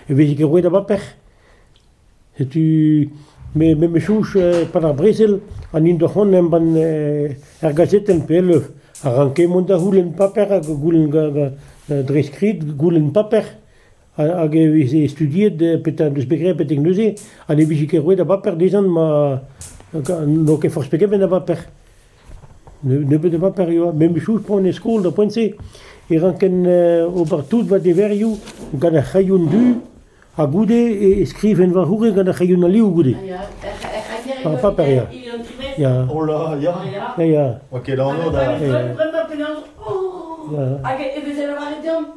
Evit ket roet a baper. Setu me memes-chouch pad ar brezel ha n'int ket c'hoant embann er gazetenn pe e-leuz. A ranke mont da c'houlenn paper hag goulenn dre skrid goulenn paper. hag e veze studiet petra en deus bet graet betek neuze ha ne vije ket roet a baper dezhan ma n'o ket forzh pe gement a baper. Nebeut a baper e oa. Memes-chose poan e skol d'ar poent-se e ranken ober tout va deverioù gant ar c'hrailhon du ha goude e skriven va c'houre gant ar c'hrailhon alioù goude. Ar paper, ya. Ya. Oh là, ya. Ya, ya. Oa ket anv da... Bremañ penaos... Oh! Hag e vezet lavaret deomp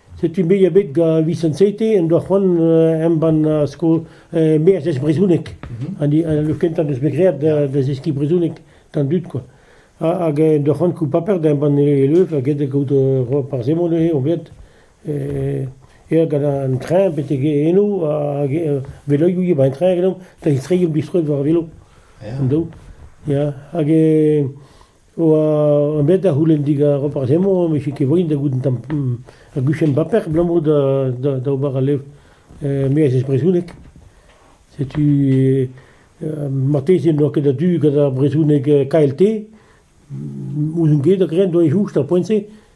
Setu me a bet gant Vincent Seite en doa c'hoant embann skol merzhez brezhoneg. An kentañ deus bet graet da zeskiñ brezhoneg d'an dud kwa. Hag en doa c'hoant koulz paper da embann e leuv ha get kaout roll par zemant neuze on bet aet gant an traeñ betek eno hag veloioù eo 'ba an traeñ genomp da zistreiñ omp distro war velo. Ya hag oa bet da c'houlenn digant Roparz Hemon e vije ket voen da goût un tamm ur guchenn baper abalamour da da da ober al levr me a zez brezhoneg. Setu marteze n'oa ket a-du gant ar brezhoneg KLT. Ouzon ket hag-eñ doa e choust ar poent-se.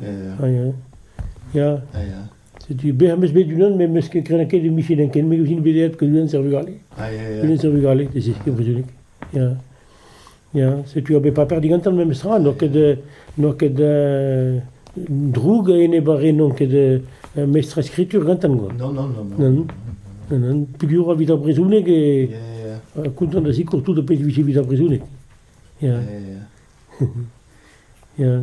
Ya, ya. A ya. Setu bec'h am eus bet unan, met meus ket krenañ ket e Michelin ken, me ouzin bet aet gant unan ser vugale. A ya, ya. Unan ser vugale, ez eus ket brezhoneg. Ya. Ya, setu ur bet paper digantan memes tra, n'oa ket, euh, n'oa ket euh, droug enep ar re n'on ket euh, mestr skritur gantan, quoi. Non, non, non. Non, non, non. Peogwir evit ar brezhoneg e... Ya, ya. Ha kontant da sikour tout ar pezh vije evit ar brezhoneg. Ya, Ya, ya. ya.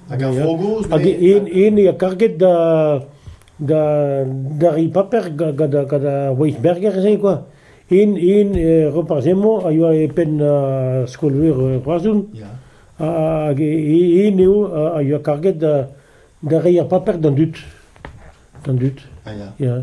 Hag ar vro gozh met... Hag ene ha karget da da da ri paper gant gant ar Weisberger se quoi. En en Roparz Hemon a yoa e penn ar skol-veur Roazhon. Hag en eo a yoa karget da da reiñ ar paper d'an dud. D'an dud. Ya.